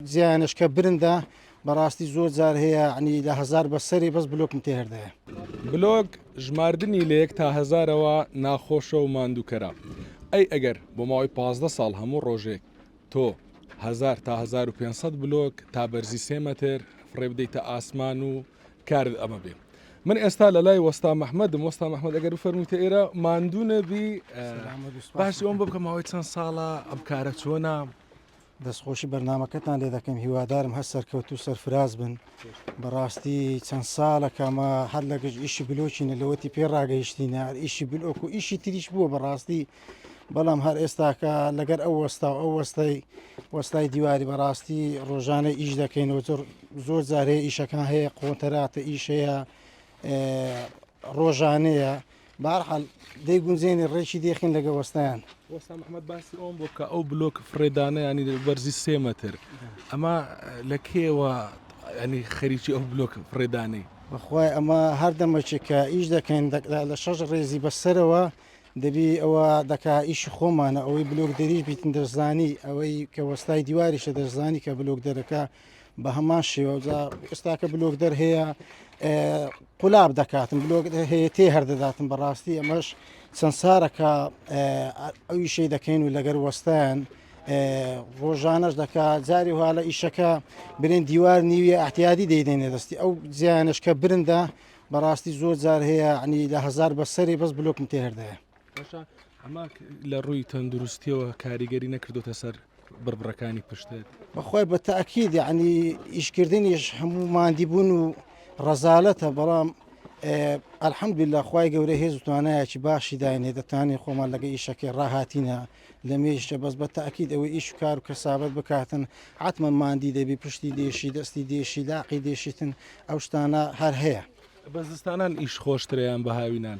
زیانش کە برندە بەڕاستی زۆر جار هەیە عنی لە هەزار بە سەرێ بەس بلۆکم تێ هەردایە. بلۆک ژماردنی لە یەک تا هەزارەوە ناخۆشە و ماندووکەرە ئەی ئەگەر بۆ ماوەی پازدە ساڵ هەموو ڕۆژێک تۆ هەزار تا هەزار و پێنج سەد بلۆک تا بەرزی سێ مەتر فڕێ بدەیتە ئاسمان و کارت ئەمە بێ من ئێستا لە لای وەستا محمدم وەستا محمد ئەگەر بفەرموویتە ئێرە ماندوو نەبی سلام و دووسپاس. باسی ئەوم بۆ بکە ماوەی چەند ساڵە ئەم کارە چۆنە دەستخۆشی بەرنمەکەتان لێ دەکەم هیوادارم هەر سەرکەوت و سەرفراز بن بەڕاستی چەند ساڵەکەمە هەر لە گشت ئیشی بلۆچینە لەوەتی پێ ڕاگەیشتینە ئیشی بلۆک و ئیشی تریش بووە بەڕاستی بەڵام هەر ئێستاکە لەگەر ئەو وەستا و ئەو وەستای وەستای دیواری بەڕاستی ڕۆژانە ئیش دەکەینەوە زۆر زۆر جارەیە ئیشەکان هەیە قۆنتەراتە ئیشەیە ڕۆژانەیە بەهەرحال دەیگونجێنێ ڕێکی دێخین لەگە وەستایان. وەسام ئەحمەد باسی ئەوم بۆ کە ئەو بلۆک فڕێدانەیانی بەرزی سێ مەتر ئەمە لە کێوە ینی خەریکی ئەو بلۆک فڕێدانەی بەخوای ئەمە هەردەمەچێک کە ئیش دەکەین لە شەش ڕێزی بەسەرەوە دەبی ئەوە دەکا ئیشی خۆمانە ئەوەی بلۆک دەریش بیتن دەرزانی ئەوەی کە وەستای دیواریشە دەرزانی کە بلۆک دەرەکە بە هەمان شێوە ئێستاکە بلۆک دەر هەیە قولاب دەکاتم بلۆک هەیە تێ هەردەداتم بەڕاستی ئەمەش چەند سارەکە ئەوی شەی دەکەین و لەگەر وەستان ڕۆژانەش دەکات جاری هاالە ئیشەکە برێن دیوار نیویە ئەحتیادی دەیدێنێ دەستی ئەو زیانشکە برندە بەڕاستی زۆر جار هەیە عنی لە هزار بەسەری بەس بلوکم تێهردەیە باشە ئەمە لە ڕووی تەندروستیەوە کاریگەری نەکردوتە سەر بڕبڕەکانی پشتێت بەخوای بە تاکید عنی ئیشکردنیش هەموو مادی بوون و ڕەزالەتە بەڵام ئەلحەمدویلا خی گەورە هێز و توانایەکی باشی داینێ دەتوانین خۆمان لەگە ئیشەکەی ڕاهاتینە لە مێشتە بەس بە تاکید ئەوەی ئیش و کار و کەسابەت بکاتن عاتمە مادی دەبی پشتی دێشی دەستی دێشی لاقی دێشیتن ئەو شتانە هەر هەیە بە زستانان ئیش خۆشتریان بە هاوینان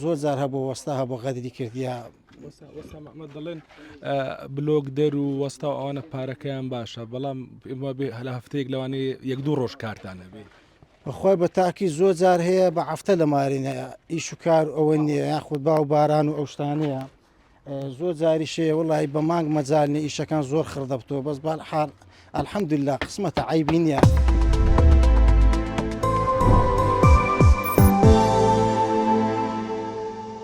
زۆر جار هەبوو وەستا هەبوو غەدری کردیا محمد دەڵێن بلۆک دەر و وەستا و ئەوانە پارەکەیان باشە بەڵام ئمە بێ هەلا هەفتەیەک لەوانی یەک دوو ڕۆژ کارتانە بێ بەخوای بە تاکی زۆر جار هەیە بە هەفتە لە مارینەیە ئیش و کار ئەوە نیە یاخود با و باران و ئەو شتانەیە زۆر جاریش هەیە وەڵاهی بە مانگ مەجال نیە ئیشەکان زۆر خڕ دەبتەوە بەس بەهەر حاڵ الحەمدللە قسمەتە عەیبی نیە.